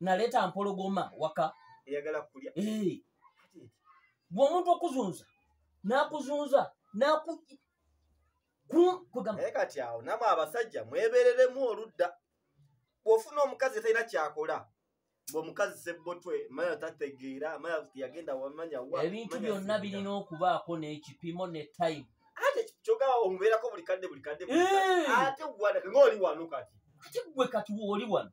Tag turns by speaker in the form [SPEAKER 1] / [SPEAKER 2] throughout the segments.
[SPEAKER 1] naleeta mpologoma waka eyagala kulya
[SPEAKER 2] eh. gwe omuntu
[SPEAKER 1] okuzunza nakuzunza naku
[SPEAKER 2] naye kati awo namwe abasajja mwebereremu oludda bwofuna omukazi talina kyakola ngaomukazi sebbotwe maya tategeera maya yagenda wamanya ebintu byonna birina
[SPEAKER 1] okubaako n'ekipimo ne time ate kyoga
[SPEAKER 2] omubeerako buli kadde buli kadde ate gwanake ngaoli wano kati ate gwe kati
[SPEAKER 1] wooli wano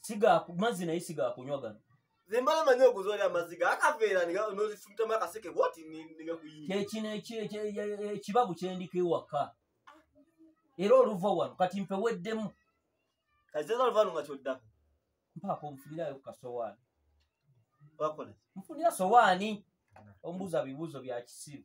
[SPEAKER 2] siga
[SPEAKER 1] mazzi naye siga kunywa gano zimbala manyi
[SPEAKER 2] okuzoola amaziga akaveera nozifumitamu akaseke bwoti kekino
[SPEAKER 1] ekibabu kyendiko ewaka era oluva wano kati mpeweddemu kazeza
[SPEAKER 2] oluva wano nga kyoddako mpaako
[SPEAKER 1] nfunirayo ku kasowaani
[SPEAKER 2] wakola nfunira
[SPEAKER 1] sowaani omubuuza bibuuzo bya kisiru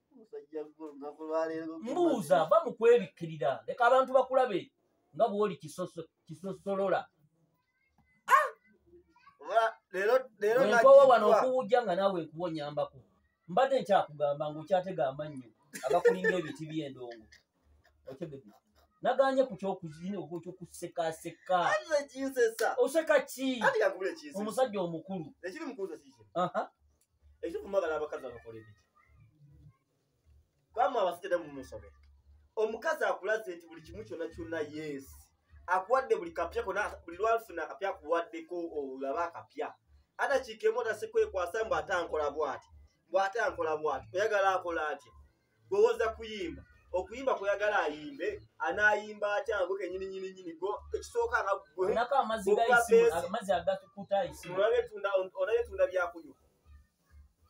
[SPEAKER 1] Musajja gwe olunaku lwaleero. Mbuuza va mu kwebikkirira leka abantu bakulabe nga bw'oli kisoso- kisosolola Oba leero leero wenkowa wano nagiddwa. okuwujja nga naawe nkuwa onyambako mbadde nkyakugamba ng'okyatega amannyo agakulinga ebiti by'endongo otegede naganye ku kyokuzina okyokusekaseka Anze kinsesa. oseka ki Ati kakubule kinsesa. omusajja omukulu Ekiri mukuuza kiki?
[SPEAKER 2] Aha. ekitufu mwagala abakazi abakola ebiki kwamwe abasikede mumusobe omukazi akulaze nti buli kimu kyona kyona yes akuwadde buli kapya kona buli lwalufuna akapya akuwaddeko olaba akapya ata kiikemu otasekwekwasa mbu ate ankola bwati bwate ankola bwati oyagala akola atya gwewoza kuyimba okuyimba kweyagala ayimbe anayimba atya ngo kenyini
[SPEAKER 1] nyini nyini go ekisooka nga gweolatunda olatunda
[SPEAKER 2] byakunywa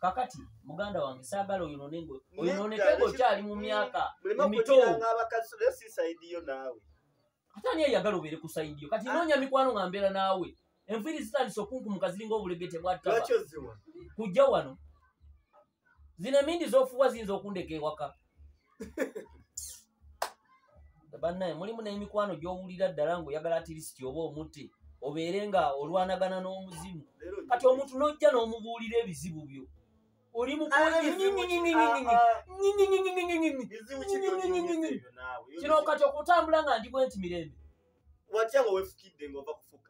[SPEAKER 1] kakati muganda wange saagala oyonone ngo oyononeke ngo okyali mu myaka emitoabakasisayidiyo naawe ate ani eyagala obeere ku sayidiyo kati ah. noonya mikwano nga mbeera naawe enviiri zitandise okunkumuka ziringa obulegete bwattaba kujja wano zino emindi zofuwa ziyinza okundeka ewaka bannaye mulimu n'emikwano gy'owulira ddala ng'oyagala atirisiti oba omuti obeere nga olwanagana n'omuzimu kati omuntu n'ojja n'omubuulira ebizibu byo oli mukino kati okutambula nga ndi bwenti mirembe watya nga
[SPEAKER 2] wefukidde ngaova kufuka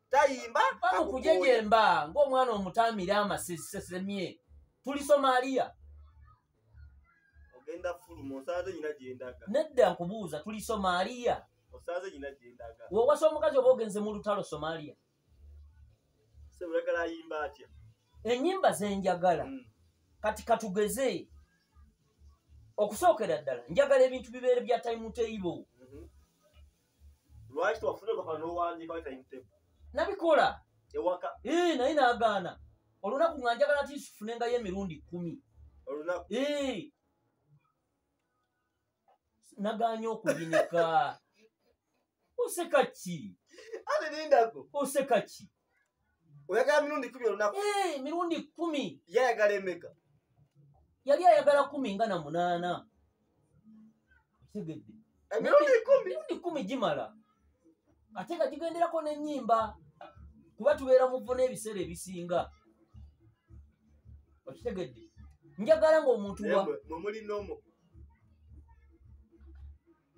[SPEAKER 2] tayimba bamukujejemba
[SPEAKER 1] ng'omwana omutaamira amasesemye tuli somaliya
[SPEAKER 2] ogenda fuluma osaze nyina gyendaga nedda nkubuuza
[SPEAKER 1] tuli somaliya osaze nyina
[SPEAKER 2] gyendaga wewasa omukazi oba ogenze
[SPEAKER 1] mu lutalo somaliya
[SPEAKER 2] seulagala ayimba atya enyimba
[SPEAKER 1] zenjagala mm. kati katugeze okusookera ddala njagala ebintu bibeere bya taimu teibo
[SPEAKER 2] lwaki tewafuna olupapa n'owandiika wa time
[SPEAKER 1] table nabikola ewaka
[SPEAKER 2] ee
[SPEAKER 1] naye nagaana olunaku nga njagala ti sifunengayo emirundi kumi olunaku
[SPEAKER 2] ee
[SPEAKER 1] naganye okuyinika oseka ki ate nindako
[SPEAKER 2] oseka ki
[SPEAKER 1] oyagala
[SPEAKER 2] mirundi kumi olunaku eh, mirundi kumi
[SPEAKER 1] yayagala emeka
[SPEAKER 2] yali
[SPEAKER 1] ayagala kumi nga na munaana okitegedde eh, mirundi
[SPEAKER 2] kumi gimala
[SPEAKER 1] ate nga gigenderako n'ennyimba kuba tubeera muvo n'ebiseera ebisinga okitegedde njagala ngaomuntu wamuli nomo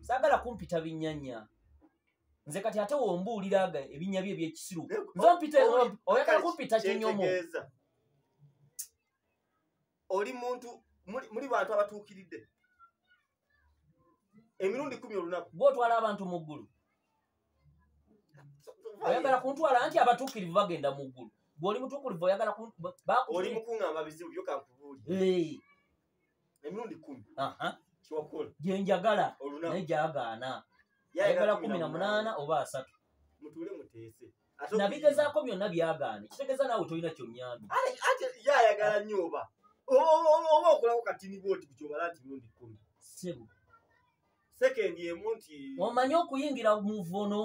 [SPEAKER 1] sagala kumpita binyanya nze kati ate wombuulira aga ebinya bye ebyekisiru eh, nze oh, mpita oh, oh, oyagala kumpita kinyomo oli
[SPEAKER 2] muntu muli bantu abatuukiridde emirundi kumi olunaku gwotwala abantu mu ggulu
[SPEAKER 1] oyagala kuntwala anti abatuukirivu bagenda mu ggulu gweoli mutuukirivu oyagala oli
[SPEAKER 2] mukuŋamba bizibu byokankubuuli emirundi kumi kyokola gyenjagala
[SPEAKER 1] naye gyagaana ayagala kumi na munaana oba asatu mutuule muteese
[SPEAKER 2] nabigezaako
[SPEAKER 1] byonna byagaana kitegeeza naawe tolina kyonyambi yayagala
[SPEAKER 2] nnyo oba oba okulako katini bwoti kukyobala nti mirundi kumi sebo sekendi emu nti omanyi okuyingira
[SPEAKER 1] muvono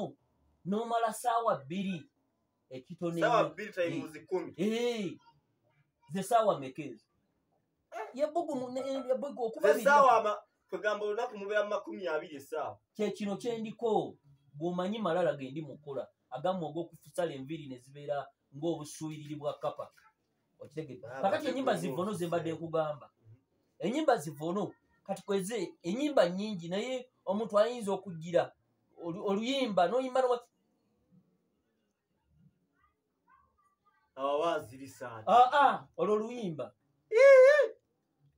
[SPEAKER 1] n'omala saawa bbiri ekitoneewa bbiri tayimuzi
[SPEAKER 2] kumi ze
[SPEAKER 1] saawa mekeezo yebbugu okuba esaawa ama kwegamba
[SPEAKER 2] olunaku mubeera mu makumi abiri esaawa kyekino kyendiko
[SPEAKER 1] bwomanyi malala gendi mukola agamu ogwokufutsala enviiri nezibeera ngaobusuuyiriri bwa kapa okitegede ah, kakati enyimba zivono zembadde nkugamba enyimba zivono kati kweze enyimba nyingi naye omuntu ayinza okugira oluyimba noyimba
[SPEAKER 2] awawaazirisaati ah, ah, olwo luyimba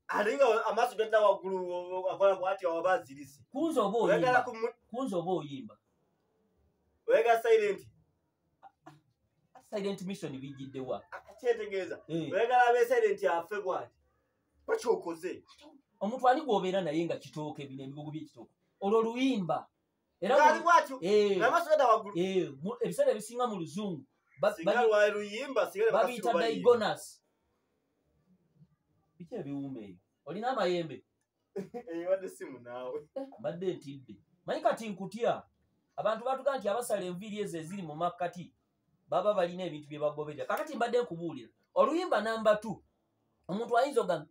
[SPEAKER 1] ate
[SPEAKER 2] nga amaaso gadda waggulu akola bwati awaba azirise kunza oba oyimba
[SPEAKER 1] kunza oba oyimba
[SPEAKER 2] oyagala silenti
[SPEAKER 1] silent mission bijjiddewa kyetegeeza
[SPEAKER 2] eh. oyagala abe silenti afe bwati bakyokoze omuntu
[SPEAKER 1] ani gwobeera naye nga kitooke bino ebigogo byekitooke olwo luyimba era mu- kaali bwatyo eh, nga amaaso gada waggulu eh, mu- ebiseera ebisinga mu luzungu ba- singa babi- lwali luyimba singa ne bakasiru babiyita bayimba. digonus biki ebiwuuma eyo olina amayembe Eh, wadde
[SPEAKER 2] simu naawe mbadde ntidde
[SPEAKER 1] manyi kati nkutya abantu batuga nti abasala enviiri ezo eziri mu makkati baba balina ebintu bye bagoberera kakati mbadde nkubuulira oluyimba namba t omuntu ayinza ogamba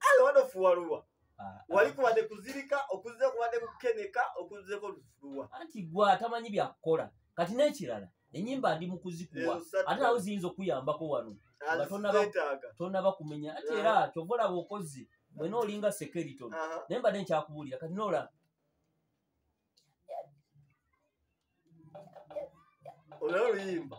[SPEAKER 1] ala wano
[SPEAKER 2] ofuwalulwa ah, wali ah. kubadde kuzirika okuzze kubadde kukeneka okuzzeko lufuwa anti gwe atamanyi
[SPEAKER 1] byakukola kati n'ekirala enyimba ndi mukuzikuwa ate nawe ziyinza okuyambako wano nga tonaba kumenya ate era kyova olaba okozi mwena olinga sekeriton naye mbadde nkyakubuulira kati noolaba
[SPEAKER 2] olaba oluyimba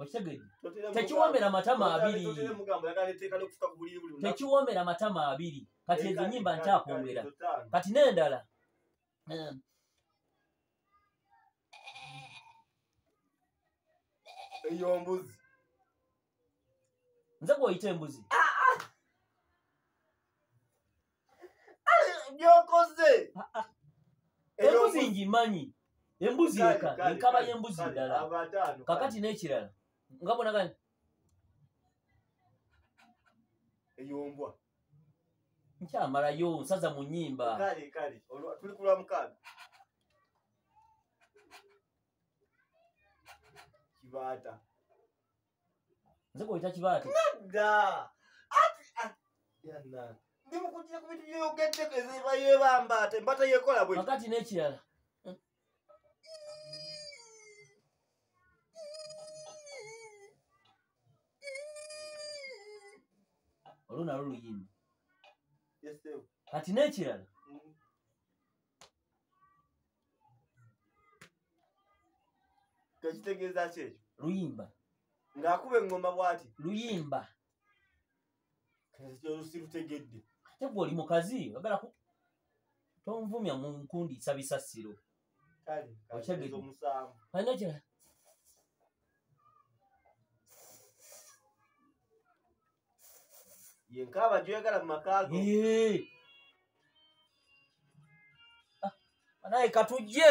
[SPEAKER 1] okitegedde tekiwoomera matama abiri tekiwoomera matama abiri kati ezo nyimba nkyakwongera kati n'endala ehm.
[SPEAKER 2] eyo mbuzi
[SPEAKER 1] nze gweoyita embuzi ah!
[SPEAKER 2] byokoze
[SPEAKER 1] embuzi ngimanyi embuzi eka enkaba y'embuzi ndala kakati n'ekirala nga bonaga
[SPEAKER 2] eyombwa
[SPEAKER 1] nkyamalayo nsaza mu nyimba
[SPEAKER 2] tuli kulwa mukaaga kibaata
[SPEAKER 1] nze kuyita kibaati nedda
[SPEAKER 2] ati ah, yana ndi mukujja ku bintu byoyogeddeko eziba yebamba ate mbata yekola bwe wakati n'ekirala
[SPEAKER 1] olwo nalwo luyimba kati n'ekirala
[SPEAKER 2] tekitegeeza ki ekyo luyimba
[SPEAKER 1] ng'akuba
[SPEAKER 2] eŋŋoma bwati luyimba olusirutegedde ate gwe oli
[SPEAKER 1] mukazi ogala tonvumya mu nkundi isabisa siro
[SPEAKER 2] okyagedde alina kira ye nkaaba gyoyagala mu maka go Yee. Ah,
[SPEAKER 1] banaye katujje